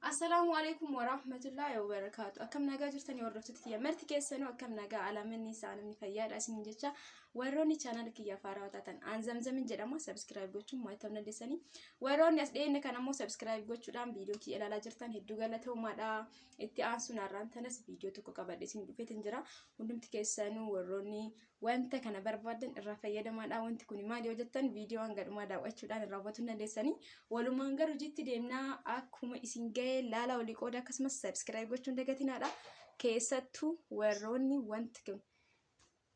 Assalaamu alaikum wa rahmatullahi wa barakaatu. Akkam nagaa jirtanii hordoftoota kiyya marti keessanuu akkam nagaa alamanni isaa namni fayyaadha isin jecha warroonni chaanal kiyya faaraa taatan aan zamzamin jedhama sabskiraayib gochuun mo'atamuu dandeessanii warroonni as dhiyeenya kan ammoo sabskiraayib gochuudhaan viidiyoo kiyya ilaalaa jirtan hedduu galatoomaadha itti aansuun har'aan tanas viidiyoo tokko qabadhe isin dhufeetin jira hundumti keessanuu warroonni wanta kana barbaadan irraa fayyadamaadha. Wanti kun maal yoo jettan viidiyoo hanga dhumaa daawwachuudhaan irraa hubachuu dandeessanii. Walumaan garuu jitti deemnaa akkuma isin ga'e laala olii qooda akkasumas sabiskiraayib gochuun dagatinaadha. Keessattuu warroonni wanti kun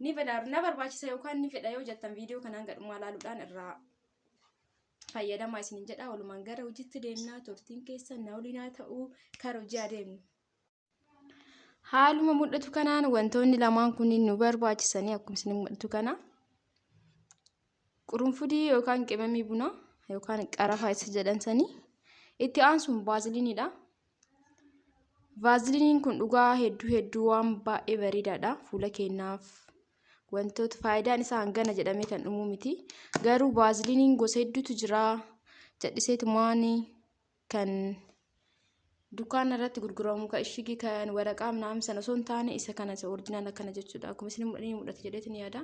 ni fedhaaru na barbaachisa yookaan ni fedha yoo jettan viidiyoo kana hanga dhumaa laaluudhaan irraa fayyadamaa isinin jedha. Walumaan gara hojiitti deemnaa turtiin keessa na waliin haa ta'u kara hojii adeemnu. Haaluma mul'atu kanaan wantoonni lamaan kunniin nu barbaachisanii akkuma isin mul'atu kana qurunfudii yookaan qimamii bunaa yookaan qarafaa isa jedhan sanii itti aansuun vaaziliiniidha. Vaaziliiniin kun dhugaa hedduu hedduu waan baay'ee bareedaadha fuula keenyaaf wantoota faayidaan isaa hangana jedhamee kan dhumuu miti garuu vaaziliiniin gosa hedduutu jira jedhiseetumaan kan dukkaana irratti gurguramu kan ishigi kan waraqaa naam sana osoo hin taane isa kana isa orjinaal akkana jechuudha akkuma isin mudhate jedheetin yaada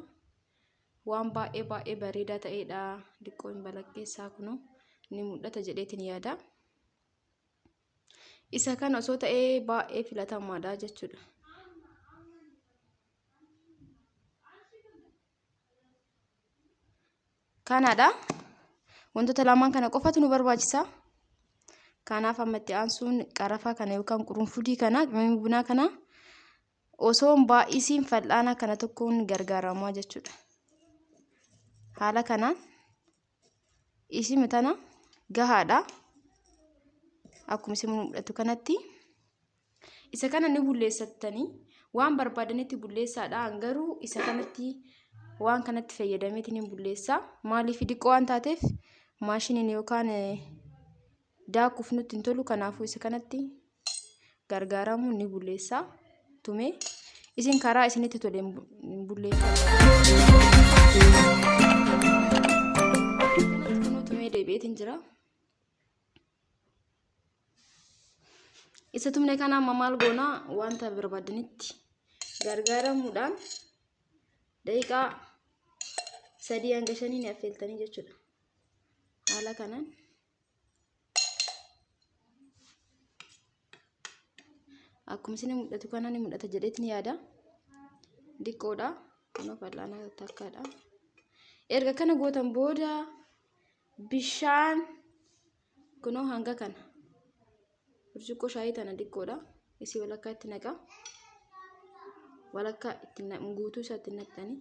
waan baay'ee baay'ee bareedaa ta'eedha diqqoo hin balakkeessaa kunu ni mudhata jedheetin yaada isa kana osoo ta'ee baay'ee filatamaadha jechuudha. Kanaadha. Wantoota lamaan kana qofatu nu barbaachisa. Kanaaf amma itti aansuun qarafaa kana yookaan qurunfudii kana qimamii bunaa kana osoo hin baay'isiin fal'aana kana tokkoon gargaaramaa jechuudha. Haala kanaan isima tana gahaadha akkuma isin mul'atu kanatti isa kana ni bulleessattanii waan barbaadanitti bulleessaadha garuu isa kanatti waan kanatti fayyadameetiin hin bulleessaa maaliif diqqoo waan taateef maashiniin yookaan daakuuf nutti hin tolu kanaafuu isa kanatti gargaaramuun ni bulleessa tumee isin karaa isinitti tole hin bu- hin bulleeffatu. Kanatti kunuu tumee deebi'eetiin jira. Isa tumne kana amma maal goona wanta barbaadanitti gargaaramuudhaan daqiiqaa sadii hanga shanii ni affeeltanii jechuudha. Haala kanaan. akkuma isin mul'atu kana ni mul'ata jedheetni yaada diqqoodha kunoo fal'aana takkaadha erga kana gootan booda bishaan kunoo hanga kana burcuqqoo shaayii tana diqqoodha isii walakkaa itti naqa walakkaa itti guutuu isaa itti naqxanii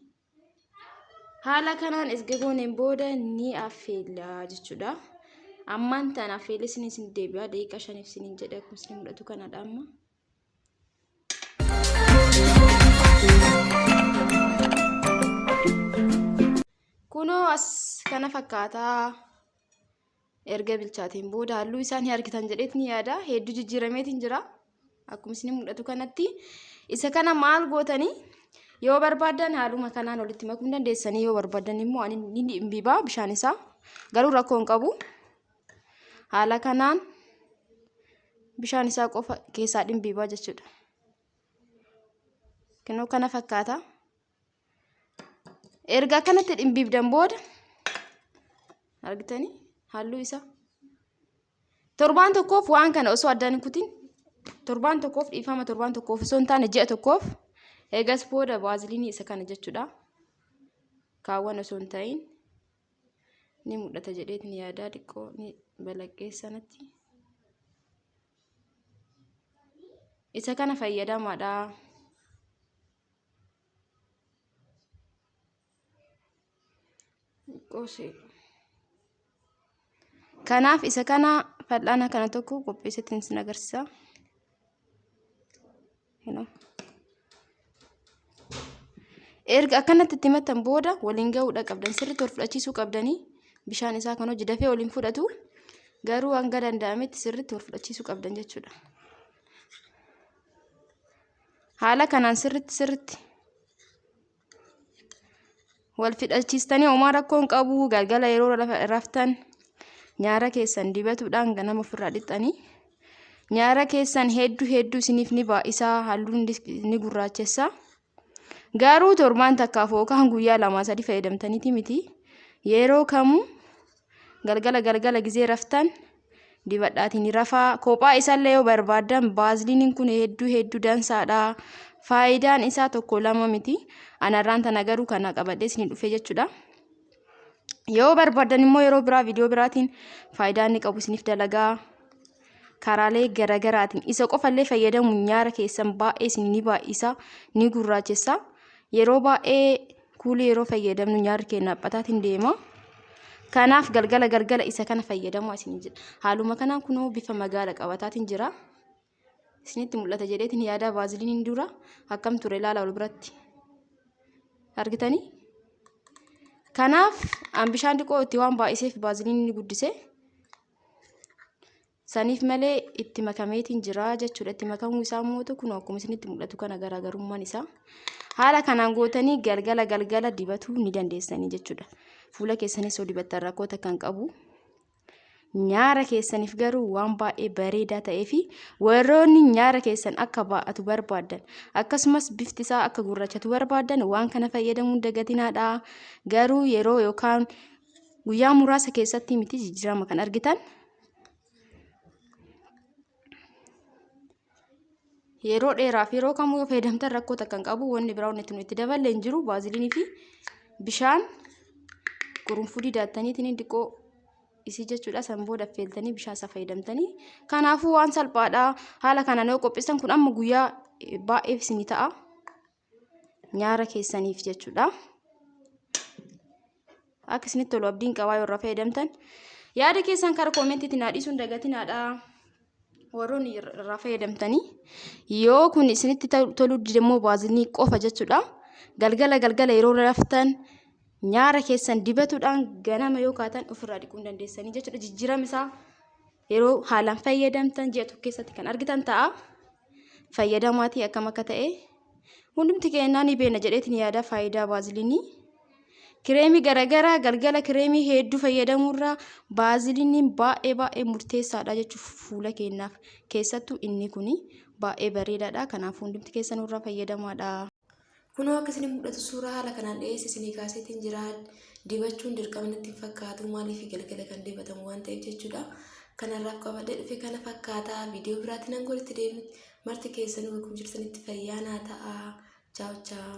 Haala kanaan erga gooneen booda ni affeella jechuudha. Ammaan tan affeellee isin isin deebi'a daqiiqaa shaniif isiniin jedha kun isin mul'atu kanadha amma. Kunoo as kana fakkaataa. erga bilchaateen booda halluu isaa ni argitan jedheet ni yaada hedduu jijjiirameetiin jira akkuma isin mul'atu kanatti isa kana maal gootanii yoo barbaadan haaluma kanaan walitti makuu dandeessanii yoo barbaadan immoo ani ni dhimbibaa bishaan isaa garuu rakkoo hin qabu haala kanaan bishaan isaa qofa keessaa dhimbibaa jechuudha. Kinoo kana fakkaata. erga akkanatti dhimbiibdan booda argitanii halluu isaa torbaan tokkoof waan kana osoo addaan hin kutin torbaan tokkoof dhiifama torbaan tokkoof osoo hin taane ji'a tokkoof eegas booda baaziliinii isa kana jechuudha kaawwan osoo hin ta'in ni mul'ata jedheetiin yaadaa xiqqoo ni balaqqee sanatti isa kana fayyadamaadha Qosee. Kanaaf isa kana fal'aana kana tokko qopheesseetiin isin agarsiisa. Erga akkanatti itti himattan booda waliin gahuudha qabdan sirriitti wal fudhachiisuu qabdanii bishaan isaa kan hojii dafee waliin fudhatu garuu hanga danda'ametti sirriitti wal fudhachiisuu qabdan jechuudha. haala kanaan sirritti sirritti wal fixachiistanii homaa rakkoon qabu galgala yeroo raftan nyaara keessan dibatuudhaan ganama ofirraa dhiqxanii nyaara keessan hedduu hedduu isiniif ni baay'isaa halluun ni gurraachessa garuu torbaan takkaaf yookaan guyyaa lama sadii fayyadamtaniiti miti yeroo kamuu Galgala galgala gizee raftan dibadhaatiin ni rafaa. Kophaa isaallee yoo barbaaddan baaziliiniin kun hedduu hedduu dansaadha. Faayidaan isaa tokko lama miti. Anarraan tana garuu kana qabadhee isin dhufe jechuudha. Yoo barbaaddan immoo yeroo biraa viidiyoo biraatiin faayidaa inni qabu isiniif dalagaa. karaalee garagaraatiin isa qofallee fayyadamu nyaara keessan baay'ee isin ni baay'isa ni gurraachessa yeroo baay'ee kuulii yeroo fayyadamnu nyaarri keenya aphataatiin deema kanaaf galgala galgala isa kana fayyadamu isin jedha haaluma kanaan kunoo bifa magaala qabataatiin jira isinitti mul'ata jedheetiin yaadaa baaziliiniin dura akkam ture ilaala wal biratti argitanii kanaaf an bishaan xiqqoo itti waan baay'iseef baaziliiniin ni guddise Saniif malee itti makameetiin jira jechuudha. Itti makamuu isaa immoo kun akkuma isinitti mul'atu kana garaagarummaan isaa. Haala kanaan gootanii galgala galgala dibatuu ni dandeessanii jechuudha. Fuula keessanis yoo dibattan rakkoo takka hin qabu. Nyaara keessaniif garuu waan baay'ee bareedaa ta'ee fi warroonni nyaara keessan akka baa'atu barbaadan akkasumas bifti isaa akka gurrachatu barbaadan waan kana fayyadamuun dagatiinaadha. Garuu yeroo yookaan Guyyaa muraasa keessatti miti jijjiirama kan argitan. Yeroo dheeraaf yeroo kamuu yoo fayyadamtan rakkoo takka hin qabu wanni biraa wanni itti daballe hin jiru baaziliinii fi bishaan qurunfudii daattaniitiin xiqqoo isii jechuudha san booda affeeltanii bishaan isaa fayyadamtanii kanaafuu waan salphaadha haala kanaan yoo qopheessan kun amma guyyaa baay'eef isinii ta'a. nyaara keessaniif jechuudha. Akka isinitti tolu abdiin qabaa yoo irraa fayyadamtan. Yaada keessan karaa koomentiitti naa dhiisuun dagatinaadha. Warroonni irraa fayyadamtanii yoo kun isinitti toluu dide immoo baazinii qofa jechuudha. Galgala galgala yeroo raftan nyaara keessan dibatuudhaan ganama yoo kaatan ofirraa dhiquu hin dandeessanii jechuudha. Jijjiirama isaa yeroo haalaan fayyadamtan ji'a tokko keessatti kan argitan ta'a fayyadamaatii akkam akka ta'e hundumti keenyaa ni beekna jedheetiin yaada faayidaa baaziliinii kireemii garagaraa galgala kireemii hedduu fayyadamuurraa baaziliiniin baay'ee baay'ee murteessaadha jechuuf fuula keenyaaf keessattuu inni kun baay'ee bareedaadha kanaaf hundumti keessanurraa fayyadamaadha. Kunoo akka isin mul'atu suuraa haala kanaan dhiyeessa isinii kaaseetiin jira. Dibachuun dirqama natti hin fakkaatu maaliif galgala kan dibatamu waan ta'eef jechuudha. Kanarraaf qabadhee dhufe kana fakkaata. Viidiyoo biraatti nan golitti deebinutti marti keessanuu bakka jirtanitti fayyaa naa ta'a. Chaaw chaaw.